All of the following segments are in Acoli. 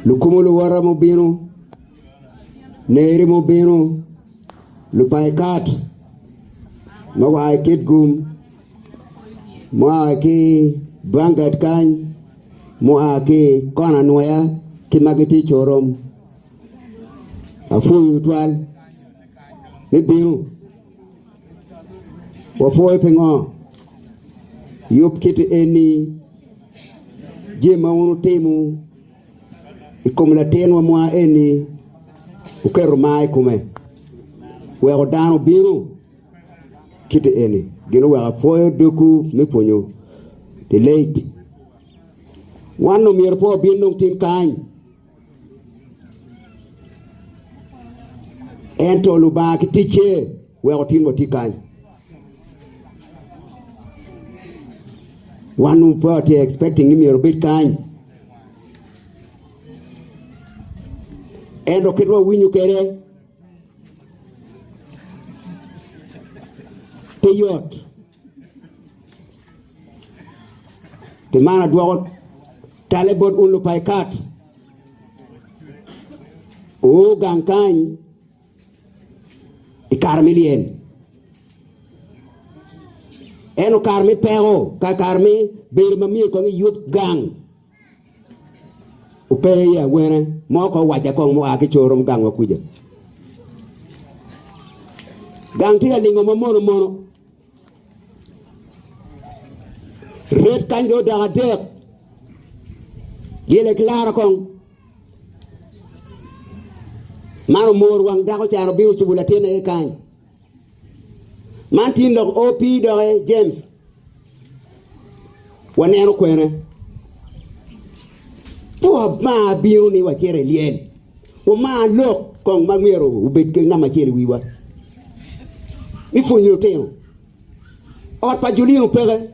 Lukumo luwota ma obino, neri ma obino, lupaikat ma gua ki Kitgum, mua ki Bangad kany, mua ki kona Nwoya ki ma gitye i Corom. Apwoyo twal me bino. Wapwoyo pingo yub kiti eni, jami ma wun wutimo i kom latinwa mwa eni wuketo mar i kome, weko dano obinu kiti eni. Gin oweko apwoyo dogwu me pwonyo Delayed. Wan omyero pe wabin dong tin kany. Ento Lubanga ki ticce weko otin wa tye kany. Wan dong pe watye expecting ni myero obed kany. Ento kit ma wawinyo kwede pe yot. Pi man adwoko talle bot un Lupaikat, wugang kany i kare me lyel, ento kare me peko, kare me bedo ma myero kong iyub gang. Ope i awene mo ko owacca kong mua ki coro me gangwa kuca. Gang tye ka lingo ma mono mono. Red kany do odok adek. Dyele kilara kong. Man omor wang dako caro bino cubo latin aye kany. Man tin dok o pi doki James. Waneno kwene. Pe wamar bino ni wacito i lyel. Wamar lok kong ma myero obed ki namba acel i wiwa. Mi pwony lutino. Ot pa Julino peke.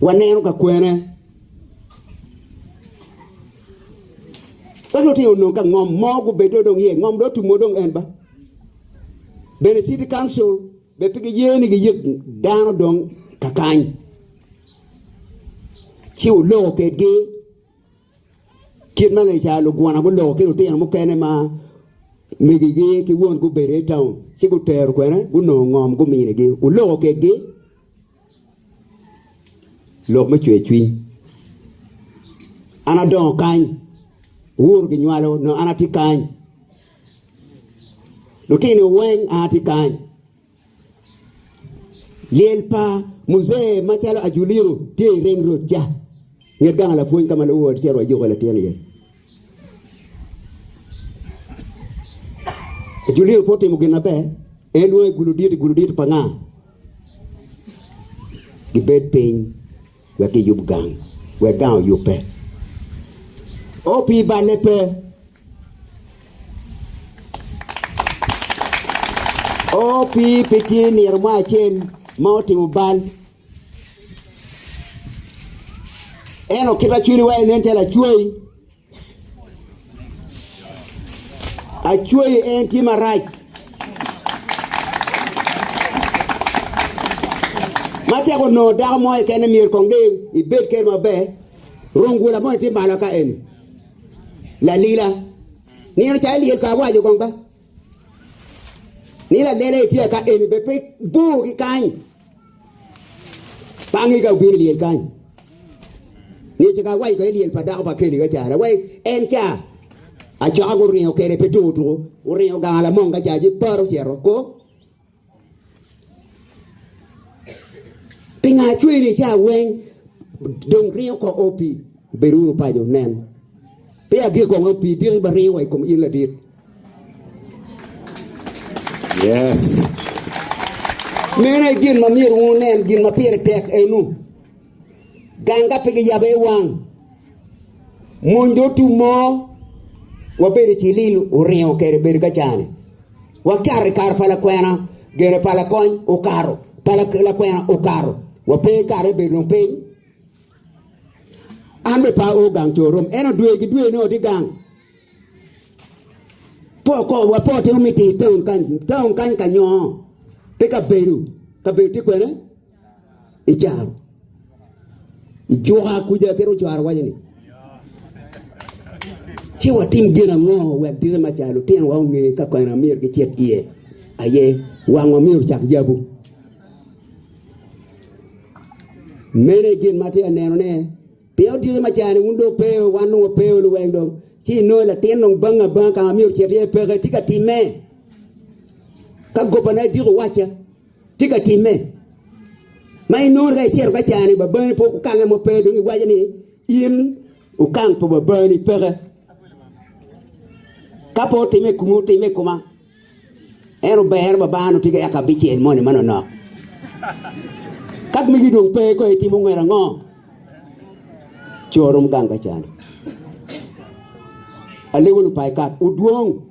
Waneno ka kwene dok lutino onongo ka ngom mo gubedo dong iye ngom dong tumo dong en ba bene city council be pe giye ni giyek dano dong kakany ci oloko kedgi Kit ma ngec ca lugwona guloko ki lutino mukene ma megigi ki won gubedo i taun, ci gutero kwene gunongo ngom guminigi. Wuloko kekgi lok me cwercwiny. An adongo kany, wuuru ginywalo nongo an atye kany. Lutino weng an atye kany. Lyel pa Muzee macalo Ajuliru tye i Ring Road ca. Nget gang lapwony ka ma luwo ot cito wa juko latin iye. Ajuliru pe otimo gin maber, en lwongo i gulu dit, i gulu dit pa nga? Gibed piny. wek giyub gang, wek gang oyubbe. O pi balle pe. O pi pe tye nino mo acel ma otimo bal. Eno kit ma cwinyi waye nen calo acwai. Acweyo en tye marac. Ma tek onongo dako mo keken myero kong de ibed kene maber. Rungula mo tye malo ka eni. Lalila. Nino ca ilyel pa awaco kong ba. Ni lalela itye aka eni be pe bor ki kany. Pangi ka obino lyel kany. Ni ce ka awaco ka lyel pa dako pa keli ka cara wai en ca acoka guringo kede pe tuko tuko guringo ganga lamong ka ca ci paro cero ko Pingo acweyo ni ca weng dong ringo ko o pi? Bed wunu paco, nen, peya gik kong pi diki ma ringo wa i kom in ladit. Yes. Meno e gin ma myero wunen, gin ma pire tek enu. Gang ka pe giyabbe i wang mony dong tum mo wabedo cilil oringo kede bedo ka cani. Wakato i kare pa lakwena, gene pa lakony okato, pa lakwena okato. Wape kare bedo dong piny. An be pa o gang corom, eno dwe ki dwe ni oti gang. Po ko wapo te omiti town kany, town kany ka nyoo. Pe ka bedo, ka bedo ti kwene? icaro ijuka kuja kit ocwaro waco ni ci watim gin ango wek dite maca lutinwa onge ka kene amyero gicit iye aye wangwa myero ocak yabu mene gin ma tye aneno ne pien dite maca ni wun dong peo wan dong wapeo luweng dong ci inongo latin dong banga banga ka ma myero ocit iye peke tye ka timme ka gobane diko wacca Tye ka timme. Ma inongo ka icito ka cani babani pe okange mo pe dong iwaco ni in okang pa babani peke. Ka pe otimme i kumi otimme i kuma. En obero babani otye ka yaka bicel moni manonok. Ka migi dong pe ko itimo ngwel ango? Coro romo gang ka cani. Alewo lupai kap udwong.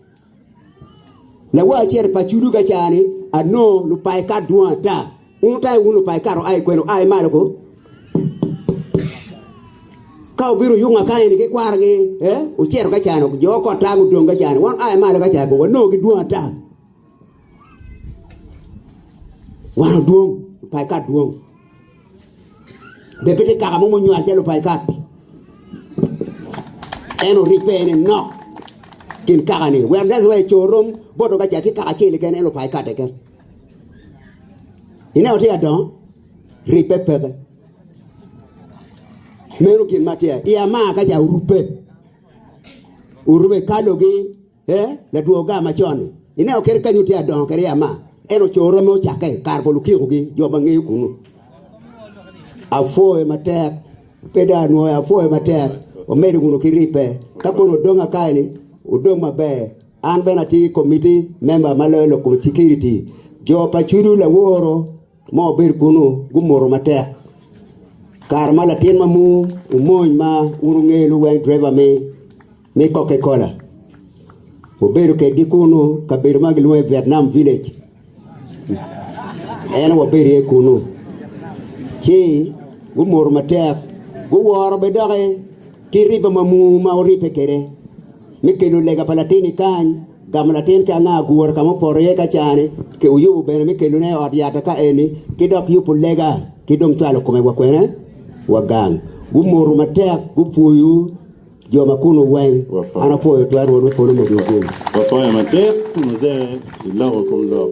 Lawa acel pa Cudu ka ca ni, Anongo lupaekat dwong ata. Wun otayo wun lupaekat oa i kweno? Ai malo ko. Ka obiro yung akanya ni ki kwarogi, eh, ocito ka ca ni, jo kot ta gudong ka ca ni. Wan ai malo ka ca ko, wanongo gi dwong ata. Wan odwong, lupaekat dwong. Be pe tye kaka mo munywal calo pa Ikat? En oric pe en enok kin kakani. Wek that's why co rom boto ka ca tye kaka acel keken en lupa Ikat keken. Ineno tye ka dongo ric pe peke. Meno gin ma tye. I ama ka ca orubbe. Orubbe kalogi Ee, ladwoga macon-ni. Ineno kadi kany otye adongo kadi i ama, en oco romme ocakke kare pa lukikogi, jo ma ngeyo kunnu. Apwoye matek, pe dong anwoyo, apwoye matek. Wamedde kunnu ki ribbe. Ka kono odong aka eni, odong maber. An bene atye ki komitti memba ma loyo lok kom cikiriti. Jo pa Cudu laworo ma obedo kunnu gumoto matek. Kare ma latin ma muu omony ma un ongeyo luweny driver me me Coca Cola obedo kedgi kunnu kabedo ma gilwongo ni Vietnam Village. En wabedo iye kunnu. Ci gumoto matek guworo bene doki ki riba ma muu ma oribbe kwede me kelo lega pa latin-ni kany. Gamo latin ki anga agura ka ma opoto iye ka caa-ni, ki uyubo bene me kelone i ot yata ka eni, ki dok yubo lega, ki dong cwalo kome wa kwene wa gang. Gumoru matek, gupwoyu jo ma kunnu weng. An apwoyo twero Rwot me polo medo oguny. Wapwoyo matek mose iloko kom lok.